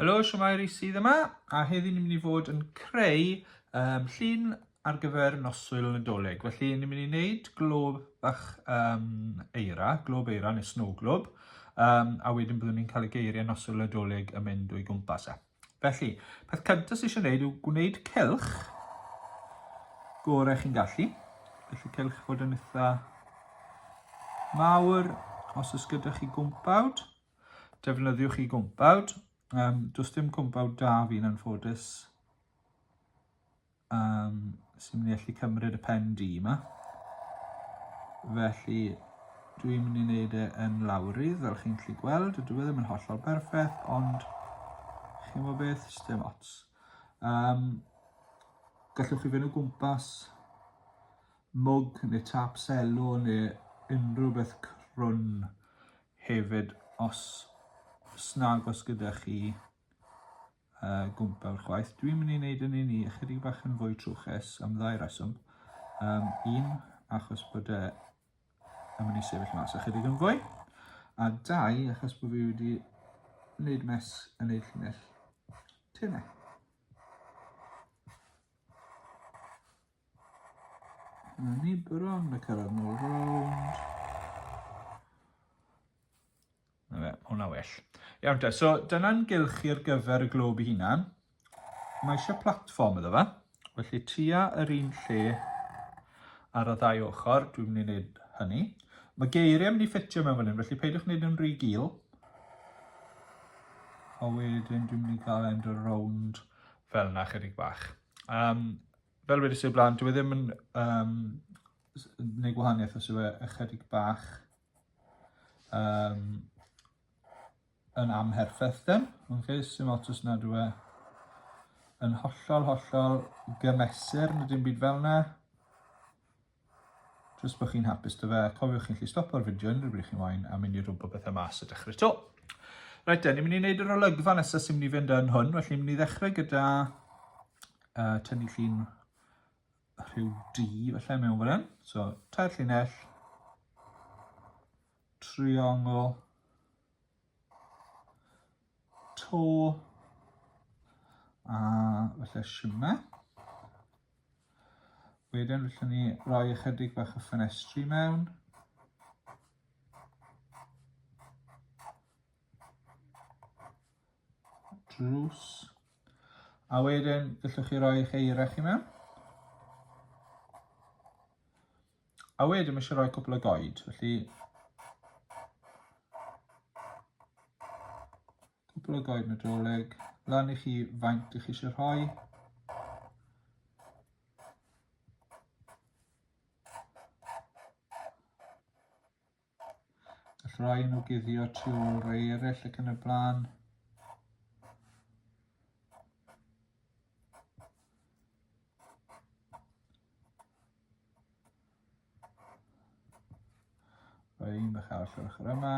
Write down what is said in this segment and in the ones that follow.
Helo, siwmai Rhys sydd yma, a heddi ni'n mynd i fod yn creu um, llun ar gyfer noswyl Nadolig. Felly ni'n mynd i wneud glob bach um, eira, glob eira neu snow glob, um, a wedyn byddwn ni'n cael y geiriau noswyl Nadolig yn mynd o'i gwmpas e. Felly, peth cyntaf sydd eisiau gwneud yw gwneud cylch gorau chi'n gallu. Felly cylch fod yn eitha mawr, os oes gyda chi gwmpawd, defnyddiwch chi gwmpawd. Um, does dim gwmpawd da fi'n anffodus. Um, sy'n mynd i allu cymryd y pen di yma. Felly, dwi'n mynd i wneud e yn lawrydd, fel chi'n gallu gweld. Dwi e ddim yn hollol berffaith, ond chi'n gwybod beth, dim ots. Um, gallwch chi fynd o gwmpas mwg neu tap selo neu unrhyw beth crwn hefyd os snag os gyda chi uh, gwmpa'r chwaith. Dwi'n mynd i wneud yn un i ychydig bach yn fwy trwchus am ddau reswm. Um, un, achos bod e yn mynd i sefyll mas ychydig yn fwy. A dau, achos bod fi wedi wneud mes yn ei llinell tenau. Ni bron y cyrraedd nôl rownd. Na fe, hwnna well. Iawn te, so dyna'n gylch i'r gyfer y glob i hunan. Mae eisiau platfform iddo fe. Felly tua yr un lle ar y ddau ochr, dwi'n mynd i wneud hynny. Mae geiriau mynd i ffitio mewn fan hyn, felly peidiwch wneud yn rhy gil. A wedyn dwi'n mynd i gael end o rownd fel yna chydig bach. Um, fel wedi sy'n blaen, dwi e ddim yn um, gwneud gwahaniaeth os yw e ychydig bach um, yn amherffaith then. Okay, sy'n lot os nad yw e yn hollol, hollol gymesur, nid dim byd fel yna. Jyst bod chi'n hapus dy fe. Cofiwch chi'n lli stopio'r fideo unrhyw bryd chi'n wain a mynd i rwbw bethau mas a dechrau to. Rhaid te, ni'n mynd i wneud yr olygfa nesaf sy'n mynd i fynd yn hwn, felly ni'n mynd i ddechrau gyda uh, tynnu llun rhyw D falle mewn fan hyn. So, tair llinell, triongl, to, a falle siwna. Wedyn, felly ni roi ychydig bach o ffenestri mewn. Drws. A wedyn, gallwch chi roi eich eira chi mewn. A wedyn, mae eisiau rhoi cwpl o goed, felly... Cwpl o goed nadolig, lan i chi faint ych chi eisiau rhoi. Gall rai nhw guddio tu ôl rai eraill ac yn y blaen. Rhoi un bach arall o'r ochr yma.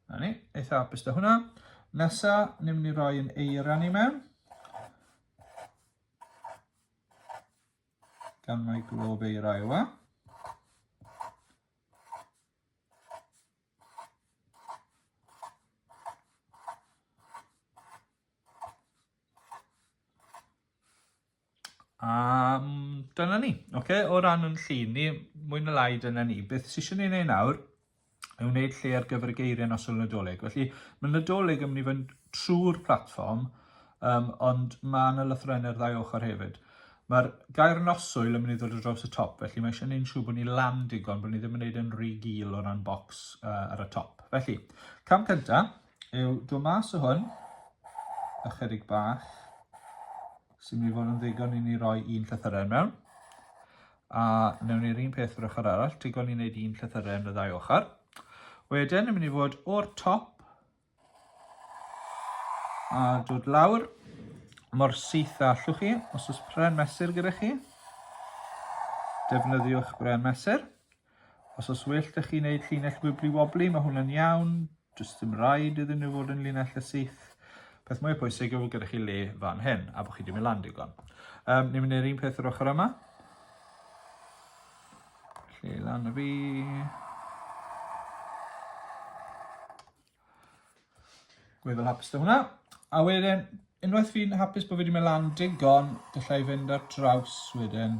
Na ni, eitha apus da hwnna. Nesa, ni'n mynd i roi yn eiran i mewn. Gan mae glob eira yw e. A dyna ni. Oce, o ran yn llun ni, mwy na lai dyna ni. Beth sy'n eisiau ei wneud nawr yw wneud lle ar gyfer y geiriau nos o'r Nadolig. Felly, mae Nadolig yn mynd i fynd trwy'r platfform, um, ond mae yna lythrennau ar ddau ochr hefyd. Mae'r gair noswyl yn mynd i ddod o draws y top, felly mae eisiau gwneud siŵr bod ni lan digon, bod ni ddim yn gwneud yn rhy gil o ran bocs uh, ar y top. Felly, cam cyntaf yw dod mas o hwn, ychydig bach, So mi fod yn ddigon i ni roi un llythyren mewn. A newn ni'r un peth yr ochr arall, digon i wneud un llythyren y ddau ochr. Wedyn, yn mynd i fod o'r top a dod lawr mor syth a allwch chi, os oes pren mesur gyda chi. Defnyddiwch bren mesur. Os os well da chi wneud llinell wibli wobli, mae hwnna'n iawn. Just ddim rhaid iddyn nhw fod yn llinell y syth. Peth mwy pwysig yw fod gyda chi le fan hyn, a bod chi ddim yn lan digon. Um, ni'n mynd i'r un peth yr ochr yma. Lle lan y fi. Gwydd fel hapus da hwnna. A wedyn, unwaith fi'n hapus bod fi wedi mynd lan digon, gallai fynd ar draws wedyn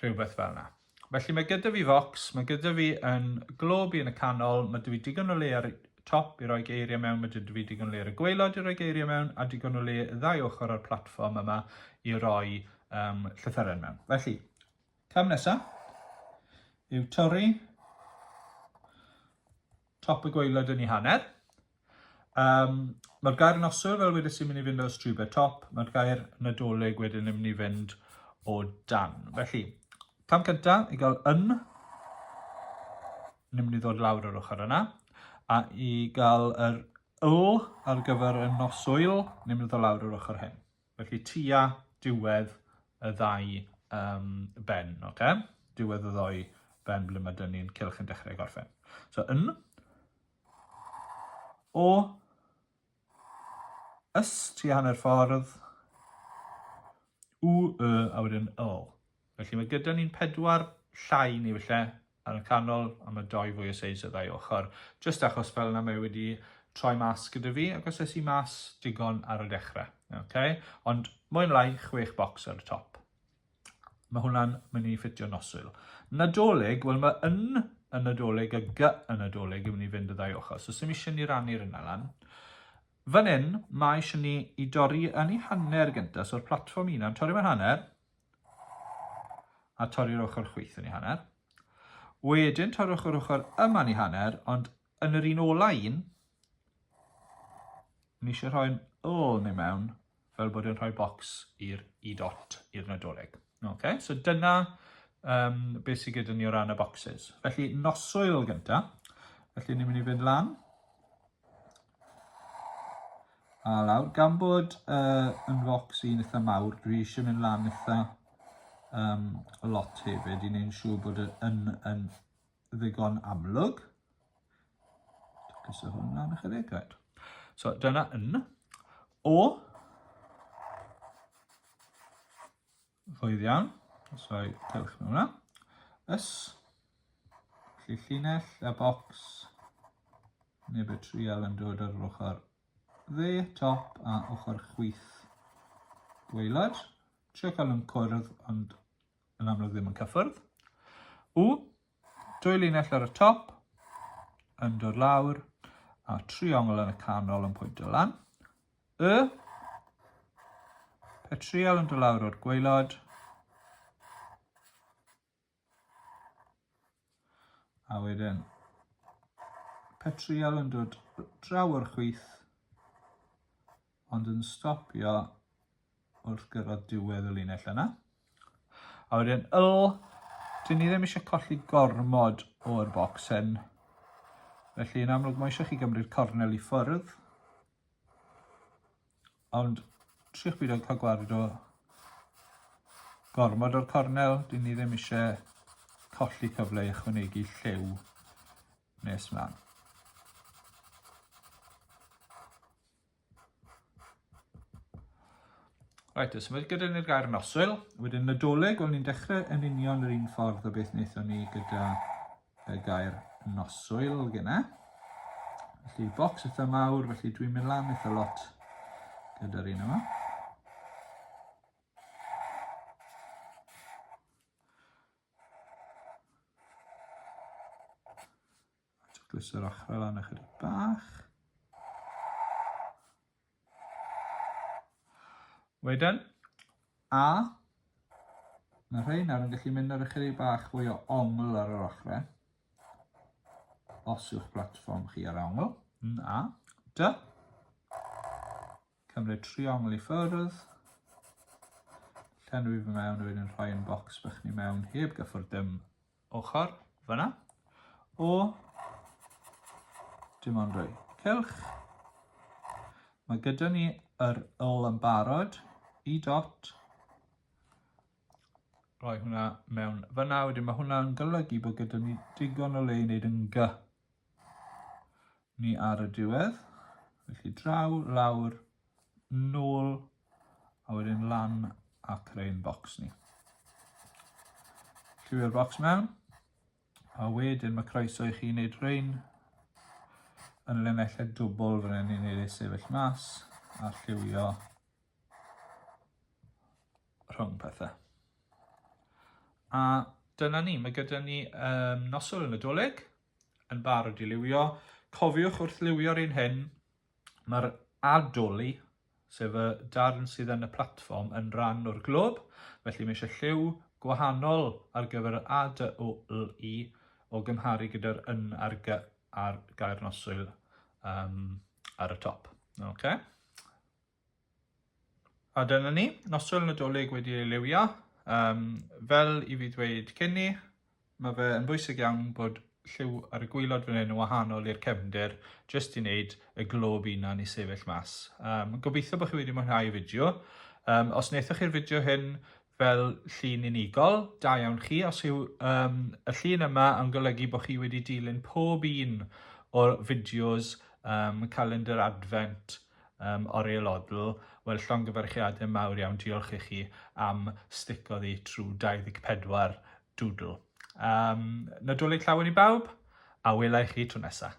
Rhywbeth fel yna. Felly mae gyda fi focs, mae gyda fi yn glob i yn y canol, mae dwi digon o le ar y top i roi geiriau mewn, mae dwi fi digon o le ar y gweilod i roi geiriau mewn, a digon o le ddau ochr o'r platfform yma i roi um, llythyren mewn. Felly, cam nesaf yw torri top y gweilod yn ei hanner, Um, mae'r gair noswyl, fel wedi sy'n mynd i fynd o strube top, mae'r gair nadolig wedyn yn mynd i fynd o dan. Felly, cam cyntaf i gael yn, ni'n mynd i ddod lawr yr ochr yna, a i gael yr yl ar gyfer y noswyl, ni'n mynd i ddod lawr yr ochr hyn. Felly, tua diwedd y ddau um, ben, oce? Okay? Diwedd y ddau ben ble mae dyn ni'n cylch yn dechrau gorffen. So, yn, O Ys ti hanner ffordd. U, y, a wedyn yl. Felly mae gyda ni'n pedwar llai neu felly ar y canol, a mae doi fwy o seis y ddau ochr. Just achos fel yna mae wedi troi mas gyda fi, ac os esi mas digon ar y dechrau. Okay? Ond mwy yn lai, chwech bocs ar y top. Mae hwnna'n mynd i ffitio noswyl. Nadolig, wel mae yn y Nadolig a gy y Nadolig yn mynd i fynd y ddau ochr, so sy'n eisiau ni rannu'r yna lan. Fan hyn, mae eisiau ni i dorri yn ei hanner gyntaf, so'r platfform un am torri mewn hanner, a torri'r ochr chwyth yn ei hanner. Wedyn torrwch yr ochr yma yn ei hanner, ond Yn yr un ola un, ni eisiau rhoi'n ôl neu mewn fel bod yn rhoi bocs i'r i dot i'r nadolig. Okay? So dyna um, beth sydd gyda ni o ran y boxes. Felly noswyl gyntaf, felly ni'n mynd i fynd lan A lawr, gan bod uh, yn focs i'n eitha mawr, dwi eisiau mynd lan eitha um, lot hefyd i wneud siŵr bod yn, yn ddigon amlwg. Cysur hwn lan ychydig, right. So dyna yn. O. Rwydd iawn. So i dewch mewn hwnna. Ys. Felly llinell a bocs. Neb y trial yn dod ar yr ochr dde, top a ochr chwith gweilod. Trio cael yn cwrdd ond yn amlwg ddim yn cyffwrdd. U, dwy linell ar y top, yn dod lawr, a triongl yn y canol yn pwyntio lan. Y, petriol yn dod lawr o'r gweilod, A wedyn petriol yn dod draw o'r chwith ond yn stopio wrth gyrraedd diwedd y linell yna. A wedyn yl, dyn ni ddim eisiau colli gormod o'r bocs hyn. Felly yn amlwg mae eisiau chi gymryd cornel i ffwrdd. Ond triwch byd o cael gwared o gormod o'r cornel, dyn ni ddim eisiau colli cyfle i ychwanegu lliw nes mlaen. Right, os ymwneud gyda ni'r gair noswyl, wedyn Nadolig, o'n ni'n dechrau yn union yr un ffordd o beth wnaethon ni gyda y gair noswyl gyna. Felly bocs eitha mawr, felly dwi'n mynd lan eitha lot gyda'r un yma. Dwys yr ochrau lan ychydig bach. Wedyn, a, na rhai, nawr yn gallu mynd ar ychydig bach fwy o ongl ar yr ochrau. Os yw'ch platfform chi ar ongl, yn a, dy. Cymryd tri ongl i ffyrdd. Llenwi fy mewn a wedyn rhoi yn bocs bych ni mewn heb gyffwrdd dim ochr fyna o dim ond rhoi cylch. Mae gyda ni yr ol yn barod i dot. Rhoi hwnna mewn fyna, wedyn mae hwnna'n golygu bod gyda ni digon o le i wneud yn gy ni ar y diwedd. Felly draw, lawr, nôl a wedyn lan a creu'n bocs ni. Lliwio'r bocs mewn a wedyn mae croeso i chi wneud rhain yn linellau dwbl fan hyn i wneud ei sefyll mas a lliwio rhwng pethau. A dyna ni, mae gyda ni um, nosol yn y doleg, yn barod i liwio. Cofiwch wrth liwio'r un hyn, Mae'r adoli, sef y darn sydd yn y platfform, yn rhan o'r glwb, felly mae eisiau lliw gwahanol ar gyfer yr A, D, O, L, I o gymharu gyda'r yn ar gy ar gair noswyl um, ar y top. Okay? A dyna ni, noswyl Nadolig wedi ei liwio. Um, fel i fi ddweud cyn ni, mae fe yn bwysig iawn bod lliw ar y gwylod fan hyn yn wahanol i'r cefndir, jyst i wneud y glob unan i sefyll mas. Um, gobeithio bod chi wedi mwynhau y fideo. Um, os wnaethoch chi'r fideo hyn, fel llun unigol. Da iawn chi. Os yw um, y llun yma yn golygu bod chi wedi dilyn pob un o'r fideos um, calendar advent um, Oriel Odl, wel llongyfarchiadau mawr iawn. Diolch i chi am stico ddi trwy 24 doodle. Um, Nadolig llawen i bawb, a welai chi tro nesaf.